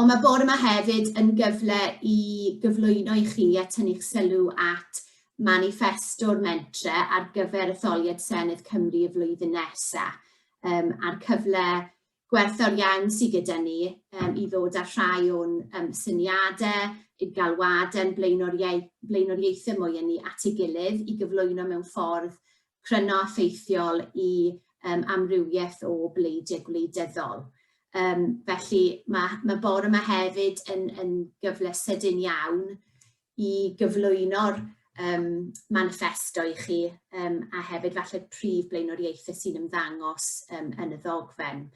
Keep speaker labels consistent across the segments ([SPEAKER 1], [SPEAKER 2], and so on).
[SPEAKER 1] Ond mae bore yma hefyd yn gyfle i gyflwyno i chi a tynnu'ch sylw at maniffesto'r mentre ar gyfer etholiad Senedd Cymru y flwyddyn nesa, um, a'r cyfle gwerthfawr iawn sydd gyda ni um, i ddod â rhai o'n um, syniadau, i'r galwadau, blaenoriaethau mwy yn ni at ei gilydd i gyflwyno mewn ffordd cryno a ffeithiol i um, amrywiaeth o bleidiau gwleidyddol. Um, felly mae, mae bore yma hefyd yn, yn gyfle sydyn iawn i gyflwyno'r um, manifesto i chi um, a hefyd falle prif blaenoriaethau sy'n ymddangos um, yn y ddogfen.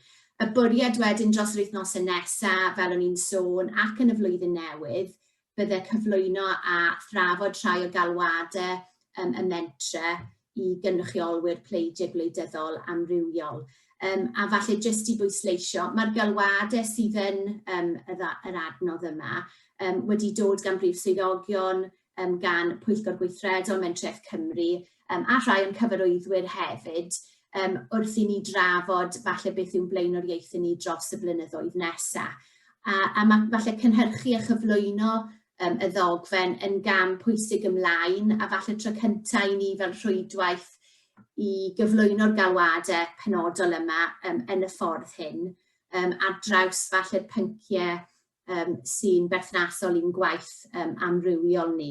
[SPEAKER 1] Y bwriad wedyn dros yr wythnosau nesaf, fel o'n i'n sôn, ac yn y flwyddyn newydd, bydde cyflwyno a thrafod rhai o galwadau um, y mentre i gynrychiolwyr pleidiau gwleidyddol amrywiol. Um, a falle jyst i bwysleisio, mae'r galwadau sydd yn um, yr adnodd yma um, wedi dod gan brif swyddogion, um, gan Pwyllgor Gweithredol Mentref Cymru, Yym, a rhai o'n cyfarwyddwyr hefyd, yym, wrth i ni drafod falle beth yw'n blaenoriaethau ni dros y blynyddoedd nesa'. A a ma' falle cynhyrchu a chyflwyno yym y ddogfen yn gam pwysig ymlaen, a falle tro cynta' i ni fel rhwydwaith i gyflwyno'r galwade penodol yma yym yn y ffordd hyn, yym ar draws falle'r pyncie yym sy'n berthnasol i'n gwaith yym amrywiol ni.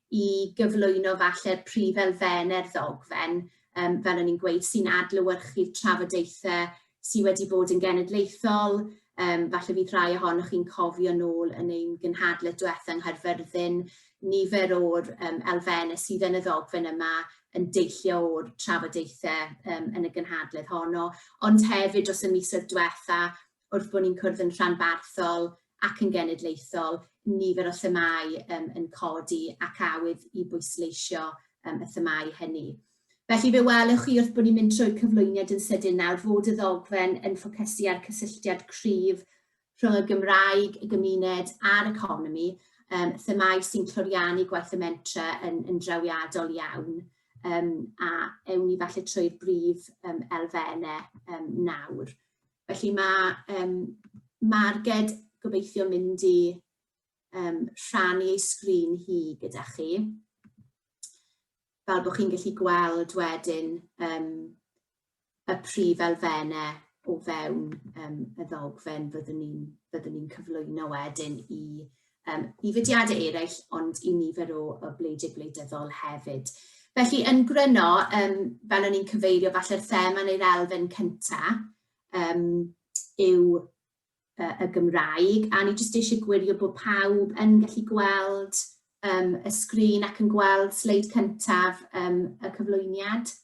[SPEAKER 1] i gyflwyno falle'r prif elfennau i'r ddogfen, yym fel o'n i'n gweud, sy'n adlewyrchu'r trafodaethau sydd wedi bod yn genedlaethol, um, falle fydd rhai ohonoch chi'n cofio nôl yn ein gynhadledd diwetha yng Nghaerfyrddin, nifer o'r um, elfennau sydd yn y ddogfen yma yn deillio o'r trafodaethau um, yn y gynhadledd honno, ond hefyd dros y misoedd diwetha, wrth bod ni'n cwrdd yn rhanbarthol ac yn genedlaethol, nifer o themâu um, yn codi ac awydd i bwysleisio um, y themâu hynny. Felly fe welwch chi wrth bod ni'n mynd trwy'r cyflwyniad yn sydyn nawr fod y ddogfen yn ffocysu ar cysylltiad cryf rhwng y Gymraeg, y gymuned a'r economi, um, themâu sy'n cloriannu gwaith y mentre yn, yn drawiadol iawn um, a ewn ni falle trwy'r brif um, elfennau um, nawr. Felly mae um, Marged gobeithio mynd i um, rhannu ei sgrin hi gyda chi. Fel bod chi'n gallu gweld wedyn um, y prif elfennau o fewn um, y ddogfen fyddwn ni'n ni cyflwyno wedyn i um, i fudiadau eraill ond i nifer o, o bleidiau gwleidyddol hefyd. Felly yn gryno, um, fel o'n i'n cyfeirio, falle'r thema neu'r elfen cyntaf um, yw uh, y Gymraeg, a ni jyst eisiau gwirio bod pawb yn gallu gweld um, y sgrin ac yn gweld sleid cyntaf um, y cyflwyniad.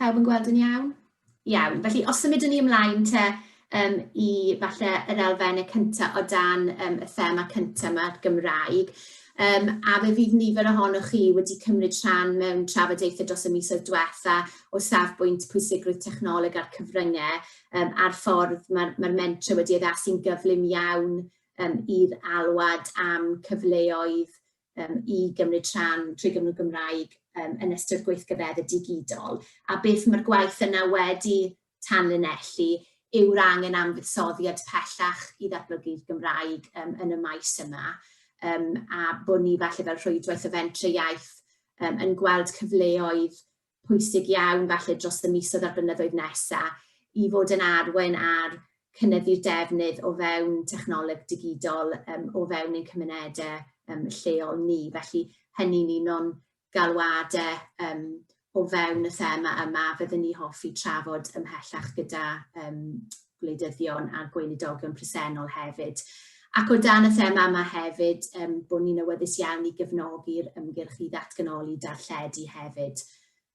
[SPEAKER 1] Pawb yn gweld yn iawn? Iawn, felly os symudwn ni ymlaen te um, i falle yr elfennau cyntaf o dan um, y thema cyntaf yma'r Gymraeg, um, a fe fydd nifer ohonoch chi wedi cymryd rhan mewn trafodaethau dros y misoedd diwetha o safbwynt pwysigrwydd technoleg a'r cyfryngau um, a'r ffordd mae'r mae mentre wedi addasu'n gyflym iawn um, i'r alwad am cyfleoedd um, i gymryd rhan trwy Gymru Gymraeg um, yn ystod gweithgaredde digidol, a beth mae'r gwaith yna wedi tanlinellu yw'r angen am fuddsoddiad pellach i ddatblygu'r Gymraeg um, yn y maes yma, um, a bod ni falle fel rhwydwaith o fentre iaith um, yn gweld cyfleoedd pwysig iawn falle dros y misoedd a'r blynyddoedd nesa' i fod yn arwain ar cynyddu'r defnydd o fewn technoleg digidol yym o fewn ein cymunede yym lleol ni. Felly hynny'n un o'n galwade yym o fewn y thema yma a fyddwn ni hoffi trafod ymhellach gyda yym gwleidyddion a gweinidogion presennol hefyd. Ac o dan y thema yma hefyd, um, bod ni'n awyddus iawn i gefnogi'r ymgyrch i ddatganoli darlledu hefyd.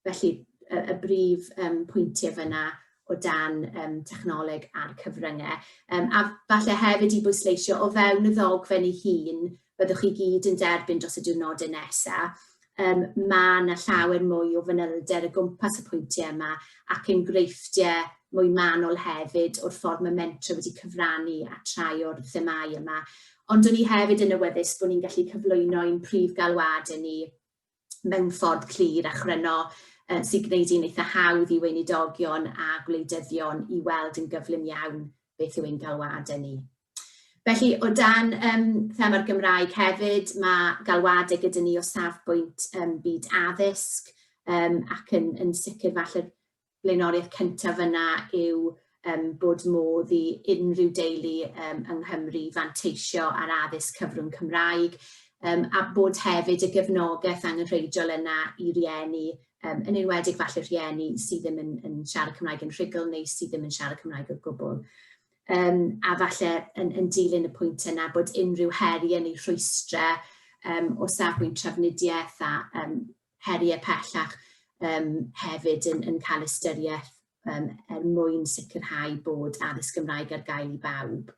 [SPEAKER 1] Felly, y, y brif um, pwyntiau fyna o dan um, technoleg a'r cyfryngau. Um, a falle hefyd i bwysleisio o fewn y ddogfen ei hun, byddwch chi gyd yn derbyn dros y diwrnodau nesaf, um, mae yna llawer mwy o fanylder y gwmpas y pwyntiau yma ac enghreifftiau mwy manol hefyd o'r ffordd mae mentra wedi cyfrannu a trai o'r themau yma. Ond o'n i hefyd yn awyddus bod ni'n gallu cyflwyno ein prif galwad yn ni mewn ffordd clir a chryno uh, sy'n gwneud i'n eitha hawdd i weinidogion a gwleidyddion i weld yn gyflym iawn beth yw ein galwad yn ni. Felly, o dan um, thema'r Gymraeg hefyd, mae galwadau gyda ni o safbwynt um, byd addysg, um, ac yn, yn sicr falle blaenoriaeth cyntaf yna yw um, bod modd i unrhyw deulu um, yng Nghymru fanteisio ar addysg cyfrwng Cymraeg, um, a bod hefyd y gefnogaeth angenrheidiol yna i rieni, um, yn enwedig falle rhieni sydd ddim yn, yn siarad Cymraeg yn rhugl neu sydd ddim yn siarad Cymraeg o gwbl. Yym, a falle yn, yn dilyn y pwynt yna bod unrhyw heriau neu rhwystrau um, o safbwynt trafnidiaeth a um, heriau pellach um, hefyd yn, yn cael ystyriaeth um, er mwyn sicrhau bod addysg Gymraeg ar gael i bawb.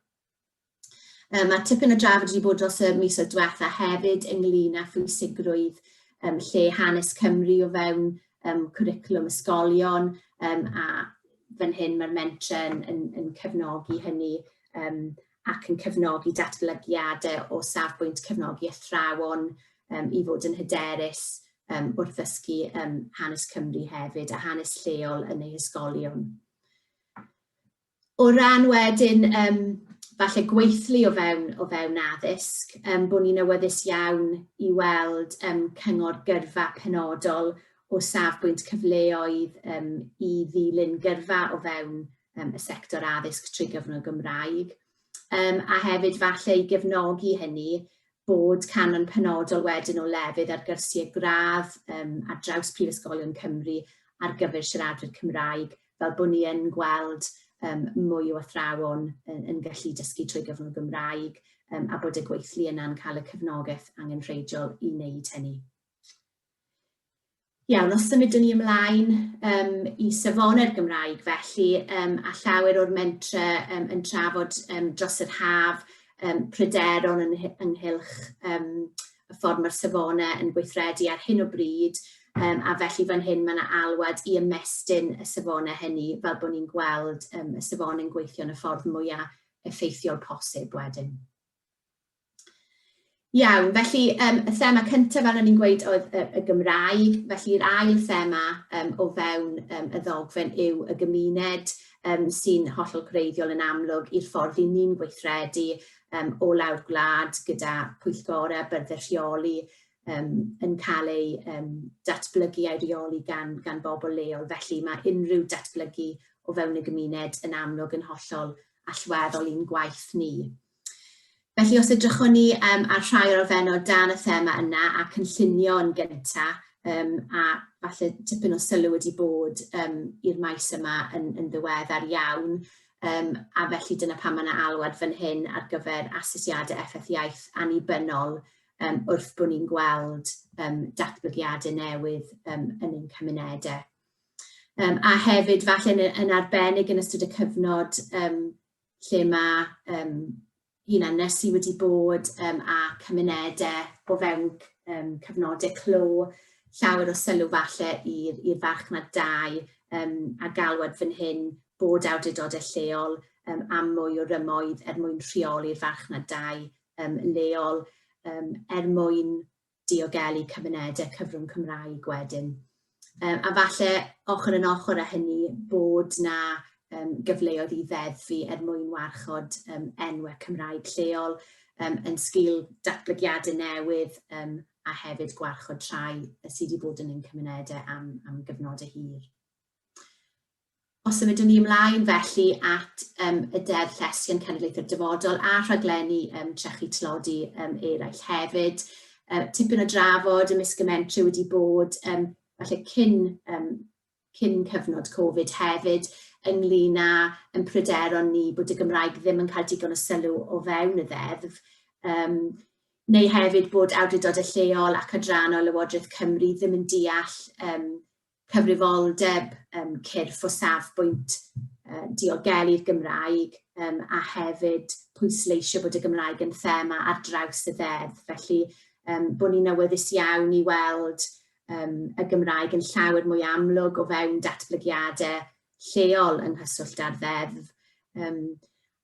[SPEAKER 1] Um, mae tipyn o drafod wedi bod dros y mis o diwetha hefyd ynglyn â phwysigrwydd um, lle hanes Cymru o fewn um, cwricwlwm ysgolion um, a fan hyn mae'r mentre yn, yn, yn cefnogi hynny um, ac yn cefnogi datblygiadau o safbwynt cefnogi athrawon um, i fod yn hyderus um, wrth ddysgu um, hanes Cymru hefyd a hanes lleol yn ei ysgolion. O ran wedyn, um, falle gweithlu o fewn, o fewn addysg, um, bod ni'n awyddus iawn i weld um, cyngor gyrfa penodol o safbwynt cyfleoedd um, i ddilyn gyrfa o fewn um, y sector addysg trwy gyfrwng y Gymraeg, um, a hefyd falle i gefnogi hynny bod canon penodol wedyn o lefydd ar gyrsiau gradd um, ar draws Prifysgolion Cymru ar gyfer siaradwyr Cymraeg, fel bod ni yn gweld um, mwy o athrawon yn, yn gallu dysgu trwy gyfrwng y Gymraeg um, a bod y gweithlu yna'n cael y cefnogaeth angenrheidiol i wneud hynny. Iawn, os symudwn ni ymlaen um, i safonau'r Gymraeg felly, um, a llawer o'r mentre um, yn trafod um, dros yr haf um, pryderon yn, ynghylch um, y ffordd mae'r safonau yn gweithredu ar hyn o bryd, um, a felly fan hyn mae yna alwad i ymestyn y safonau hynny fel bod ni'n gweld um, y safon yn gweithio yn y ffordd mwyaf effeithiol posib wedyn. Iawn, felly yym y thema cynta' fel o'n i'n gweud oedd y y Gymraeg, felly'r ail thema yym o fewn yym y ddogfen yw y gymuned yym sy'n hollol greiddiol yn amlwg i'r ffordd 'yn ni'n gweithredu yym o lawr gwlad gyda pwyllgore a byrddau rheoli yym yn cael eu yym datblygu a'u rheoli gan gan bobl leol, felly ma' unrhyw datblygu o fewn y gymuned yn amlwg yn hollol allweddol i'n gwaith ni. Felly os edrychwn ni um, ar rhai o'r ofenod dan y thema yna a cynllunio yn gyntaf um, a falle tipyn o sylw wedi bod um, i'r maes yma yn, yn ddiweddar iawn um, a felly dyna pan mae yna alwad fan hyn ar gyfer asesiadau effaith iaith annibynnol um, wrth bod ni'n gweld um, datblygiadau newydd um, yn ein cymunedau. Um, a hefyd falle yn, yn arbennig yn ystod y cyfnod um, lle mae um, hunan nesu wedi bod um, a cymunedau o fewn um, cyfnodau clo, llawer o sylw falle i'r farchnad dau um, a galwad fan hyn bod awdurdodau lleol um, am mwy o rymoedd er mwyn rheoli'r farchnad dau um, leol, um, er mwyn diogelu cymunedau cyfrwng Cymraeg wedyn. Um, a falle ochr yn ochr â hynny bod na um, gyfleoedd i ddeddfu er mwyn warchod um, enwau Cymraeg lleol um, yn sgil datblygiadau newydd um, a hefyd gwarchod trai sydd wedi bod yn ein cymunedau am, am gyfnodau hir. Os symudwn ni ymlaen felly at um, y Deddf Llesgi yn Cenedlaethau'r Dyfodol a rhaglenni um, trechu tlodi um, eraill hefyd. Uh, tipyn o drafod y misgymentri wedi bod um, falle cyn, um, cyn cyfnod Covid hefyd ynglyn â yn pryderon ni bod y Gymraeg ddim yn cael digon o sylw o fewn y ddeddf. Um, neu hefyd bod awdurdodau lleol ac adrannau Lywodraeth Cymru ddim yn deall um, cyfrifoldeb yym cyrff o safbwynt yy diogelu'r Gymraeg yym a hefyd pwysleisio bod y Gymraeg yn thema ar draws y ddeddf. Felly yym bod ni'n awyddus iawn i weld yym y Gymraeg yn llawer mwy amlwg o fewn datblygiadau lleol yng nghyswllt â'r ddeddf. Yym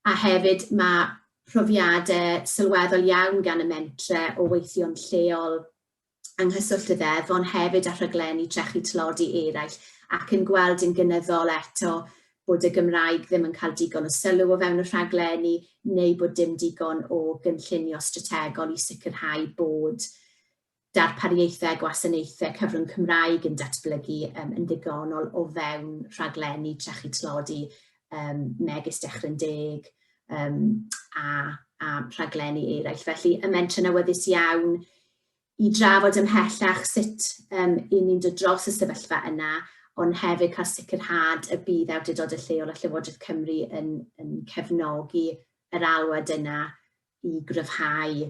[SPEAKER 1] a hefyd mae profiadau sylweddol iawn gan y mentre o weithio'n lleol yng nghyswllt y ddeddf ond hefyd â rhaglenni trechu tlodi eraill ac yn gweld yn gynyddol eto bod y Gymraeg ddim yn cael digon o sylw o fewn y rhaglenni neu bod dim digon o gynllunio strategol i sicrhau bod darpariaethau a gwasanaethau cyfrwng Cymraeg yn datblygu um, yn ddigonol o fewn rhaglenni trechu tlodi um, megis Dechrau'n Deg um, a, a rhaglenni eraill. Felly y mentrau awyddus iawn i drafod ymhellach sut um, i ni'n dod dros y sefyllfa yna, ond hefyd cael sicrhad y bydd awdurdodau lleol a Llywodraeth Cymru yn, yn cefnogi yr alwad yna i gryfhau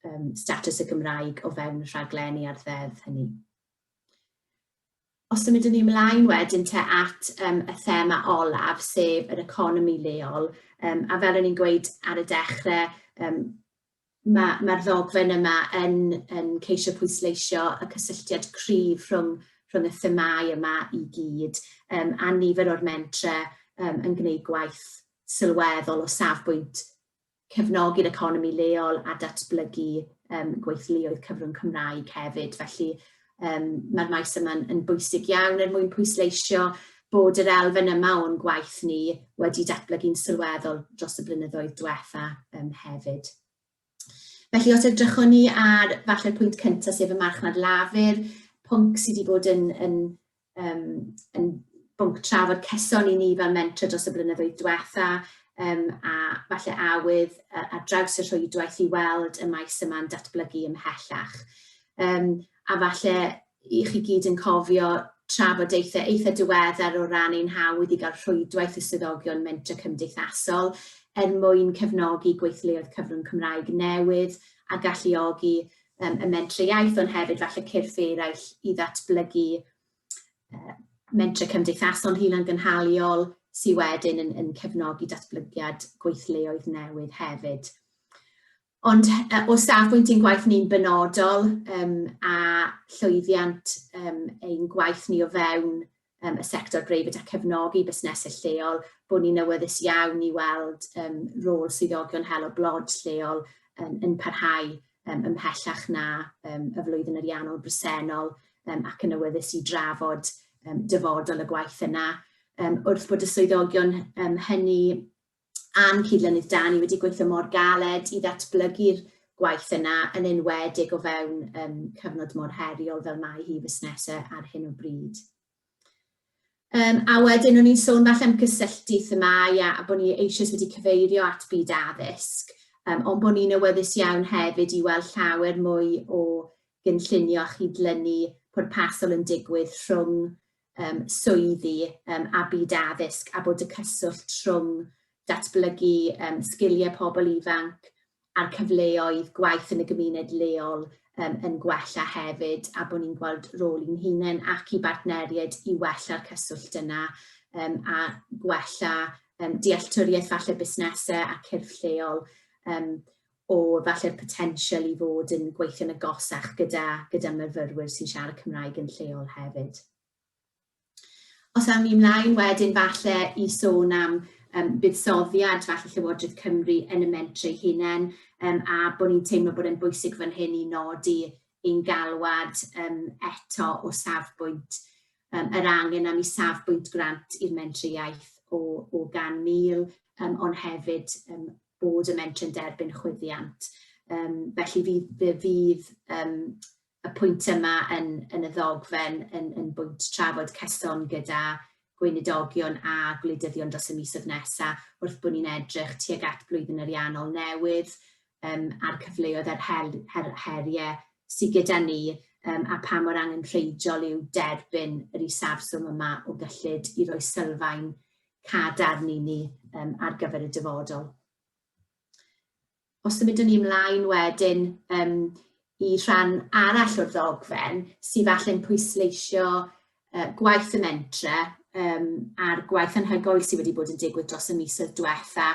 [SPEAKER 1] um, status y Gymraeg o fewn rhaglenni ar ddeddf hynny. Os ymwyd yn ymlaen wedyn te at um, y thema olaf, sef yr economi leol, um, a fel o'n i'n gweud ar y dechrau, um, Mae, mae'r ddogfen yma yn, yn ceisio pwysleisio y cysylltiad cryf rhwng, rhwng y themau yma i gyd, um, a nifer o'r mentre um, yn gwneud gwaith sylweddol o safbwynt cefnogi'r economi leol a datblygu um, gweithluoedd cyfrwng Cymraeg hefyd. Felly Um, Mae'r maes yma'n yn bwysig iawn er mwyn pwysleisio bod yr elfen yma o'n gwaith ni wedi datblygu'n sylweddol dros y blynyddoedd diwetha um, hefyd. Felly os edrychwn ni ar falle'r pwynt cyntaf sef y marchnad lafur, pwnc sydd wedi bod yn, yn um, yn bwnc trafod ceson i ni fel mentor dros y blynyddoedd diwetha, um, a falle awydd a, a draws y rhwydwaith i weld y maes yma'n datblygu ymhellach. Um, a falle i chi gyd yn cofio trafodaethau eitha diweddar o ran ein hawdd i gael rhwydwaith y swyddogion mentor cymdeithasol er mwyn cefnogi gweithleoedd cyfrwng Cymraeg newydd a galluogi um, y mentre iaith, ond hefyd falle cyrff eraill i ddatblygu uh, mentre cymdeithasol hunan gynhaliol sydd wedyn yn, yn cefnogi datblygiad gweithleoedd newydd hefyd. Ond uh, o safbwynt ein gwaith ni'n benodol um, a llwyddiant um, ein gwaith ni o fewn um, y sector breifyd a cefnogi busnesau lleol, bod ni'n awyddus iawn i weld um, rôl swyddogion helo blod lleol um, yn parhau um, ymhellach na um, y flwyddyn ariannol bresennol um, ac yn awyddus i drafod um, dyfodol y gwaith yna. Um, wrth bod y swyddogion um, hynny a'n cyd-lynydd Dani wedi gweithio mor galed i ddatblygu'r gwaith yna, yn enwedig o fewn um, cyfnod mor heriol fel mae hi fusnesa ar hyn o bryd. Um, a wedyn o'n i'n sôn falle am gysylltu themau a, a bod ni eisoes wedi cyfeirio at byd addysg, um, ond bod ni'n awyddus iawn hefyd i weld llawer mwy o gynllunio a chydlynu pwrpasol yn digwydd rhwng um, swyddi um, a byd addysg a bod y cyswllt trwng datblygu um, sgiliau pobl ifanc a'r cyfleoedd gwaith yn y gymuned leol um, yn gwella hefyd a bod ni'n gweld rôl i'n hunain ac i bartneriaid i wella'r cyswllt yna um, a gwella um, dealltwriaeth falle busnesau a cyrff lleol. Um, o falle'r potensial i fod yn gweithio'n agosach gyda gyda myfyrwyr sy'n siarad Cymraeg yn lleol hefyd. Os awn ni ymlaen wedyn falle i sôn am um, buddsoddiad falle Llywodraeth Cymru yn y mentre ei hunain um, a bod ni'n teimlo bod e'n bwysig fan hyn i nodi ein galwad um, eto o safbwynt um, yr angen am i safbwynt grant i'r mentre iaith o, o gan mil, um, ond hefyd um, bod y mentrau'n derbyn chwyddiant. Um, felly fydd, fydd um, y pwynt yma yn, yn y ddogfen yn, yn bwynt trafod cyson gyda gweinidogion a gwleidyddion dros y misoedd nesaf wrth bod ni'n edrych tuag at blwyddyn ariannol newydd um, a'r cyfleoedd a'r her, her, heriau sydd gyda ni um, a pa mor angen rheidol yw derbyn yr isafswm yma o gyllid i roi sylfaen cad arni ni um, ar gyfer y dyfodol. Os ymwydwn ni ymlaen wedyn um, i rhan arall o'r ddogfen, sydd falle'n pwysleisio uh, gwaith y mentre um, a'r gwaith anhygoel sydd wedi bod yn digwydd dros y misoedd diwetha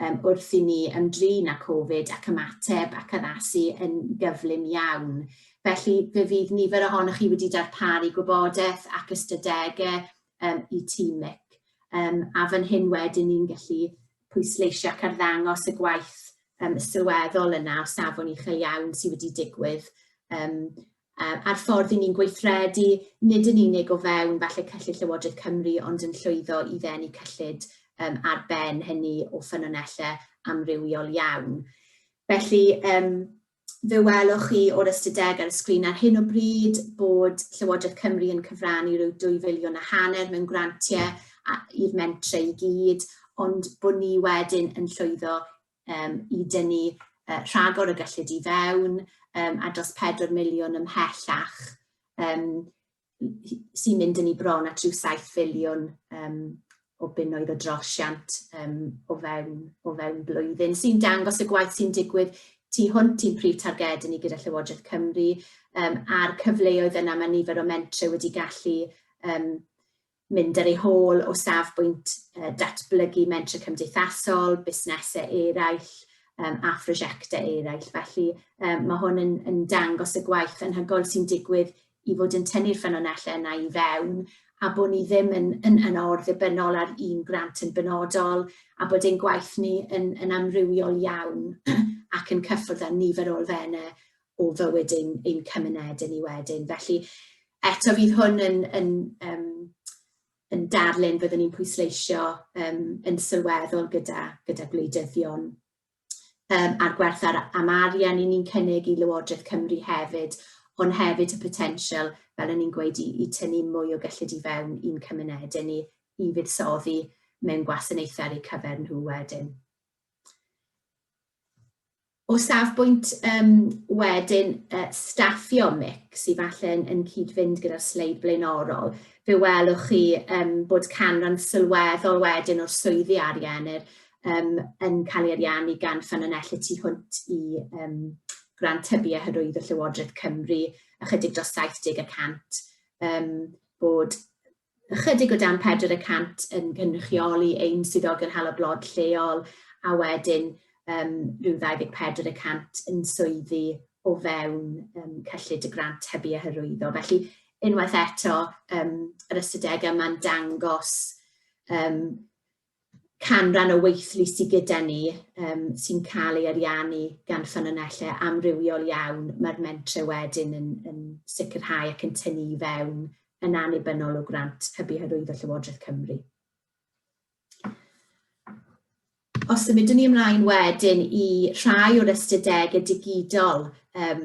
[SPEAKER 1] um, wrth i ni ymdrin â Covid ac ymateb ac addasu yn gyflym iawn. Felly fe fydd nifer ohonoch chi wedi darparu gwybodaeth ac ystadegau um, i tîm Mick. Um, a fan hyn wedyn ni'n gallu pwysleisio ac arddangos y gwaith um, sylweddol yna o safon uchel iawn sydd wedi digwydd um, a'r ffordd i ni'n gweithredu, nid yn unig o fewn falle cyllid Llywodraeth Cymru, ond yn llwyddo i ddenu cyllid um, ar ben hynny o ffynonellau amrywiol iawn. Felly, um, Fe welwch chi o'r ystadegau ar y sgrin ar hyn o bryd bod Llywodraeth Cymru yn cyfrannu rhyw dwy filiwn a hanner mewn grantiau a- i'r mentrau i gyd, ond bod ni wedyn yn llwyddo um, i dynnu uh, rhagor o gyllid i fewn um, a dros 4 miliwn ymhellach um, sy'n mynd yn ei bron at rhyw 7 filiwn um, o bunnoedd o drosiant um, o, fewn, o fewn blwyddyn, sy'n dangos y gwaith sy'n digwydd tu hwnt i'n prif targed ni gyda Llywodraeth Cymru um, a'r cyfleoedd yna mae nifer o mentre wedi gallu um, mynd ar ei hôl o safbwynt datblygu mentrau cymdeithasol, busnesau eraill a phrosiectau eraill. Felly mae hwn yn dangos y gwaith anhygoel sy'n digwydd i fod yn tynnu'r ffynonellau yna i fewn a bod ni ddim yn or-ddibynnol ar un grant yn benodol a bod ein gwaith ni yn amrywiol iawn ac yn cyffwrdd â nifer o elfennau o fywyd ein, ein cymunedau ni wedyn. Felly eto fydd hwn yn, yn, um, yn darlun byddwn ni'n pwysleisio um, yn sylweddol gyda, gyda gwleidyddion um, a'r gwerth ar, am arian i ni'n cynnig i Lywodraeth Cymru hefyd, ond hefyd y potensial, fel o'n i'n gweud, i, i tynnu mwy o gyllid i fewn i'n cymunedau ni i fuddsoddi mewn gwasanaethau ar eu cyfer nhw wedyn. O safbwynt yym wedyn yy staffio mic sy falle yn yn cyd-fynd gyda'r sleid blaenorol, fe welwch chi yym bod canran sylweddol wedyn o'r swyddi arian yr yym yn cael ei ariannu gan ffynonellau y tu hwnt i yym grant tyfu a hyrwyddo Llywodraeth Cymru ychydig dros 70 y cant yym bod ychydig o dan 400 yn cynrychioli ein swyddogion hela blod lleol a wedyn um, rhyw 24 y cant yn swyddi o fewn um, cyllid y grant hybu a hyrwyddo. Felly, unwaith eto, um, yr ystadegau yma'n dangos um, canran o weithlu sy gyda ni um, sy'n cael ei ariannu gan ffynonellau amrywiol iawn, mae'r mentre wedyn yn, yn sicrhau ac yn tynnu i fewn yn annibynnol o grant hybu hyrwyddo Llywodraeth Cymru. Os ymwydwn ni ymlaen wedyn i rhai o'r ystadegau digidol um,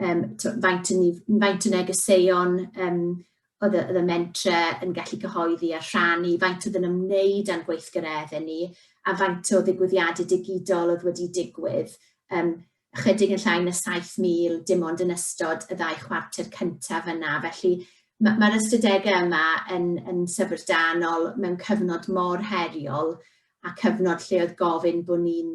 [SPEAKER 1] um, faint, yn, faint o negeseuon um, oedd y, oedd y mentre yn gallu cyhoeddi a rhannu, faint oedd yn ymwneud â'n gweithgaredde ni, a faint o ddigwyddiadau digidol oedd wedi digwydd. Um, chydig yn llai na 7,000 dim ond yn ystod y ddau chwarter cyntaf yna. Felly mae'r ma ystadegau yma yn, yn syfrdanol mewn cyfnod mor heriol a cyfnod lle oedd gofyn bod ni'n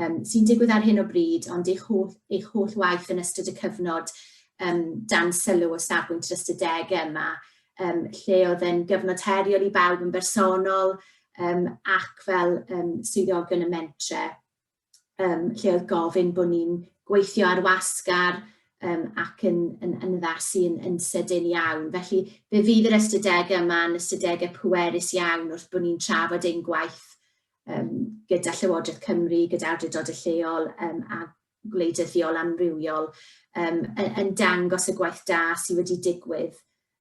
[SPEAKER 1] um, sy'n digwydd ar hyn o bryd, ond eich holl, eich holl waith yn ystod y cyfnod um, dan sylw o safbwynt yr ystadegau yma, um, lle oedd yn gyfnod heriol i bawb yn bersonol um, ac fel um, swyddogion y mentre, um, lle oedd gofyn bod ni'n gweithio ar wasgar um, ac yn, yn, yn ddasi yn, yn sydyn iawn. Felly, fe fydd yr ystadegau yma yn ystadegau pwerus iawn wrth bod ni'n trafod ein gwaith um, gyda Llywodraeth Cymru, gyda awdurdod y lleol um, a gwleidyddiol amrywiol um, yn, yn dangos y gwaith da sydd wedi digwydd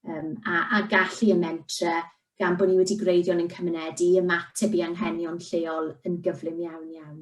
[SPEAKER 1] um, a, a gallu y mentre gan bod ni wedi gwreiddio'n yn cymuned i ymateb i anghenion lleol yn gyflym iawn iawn.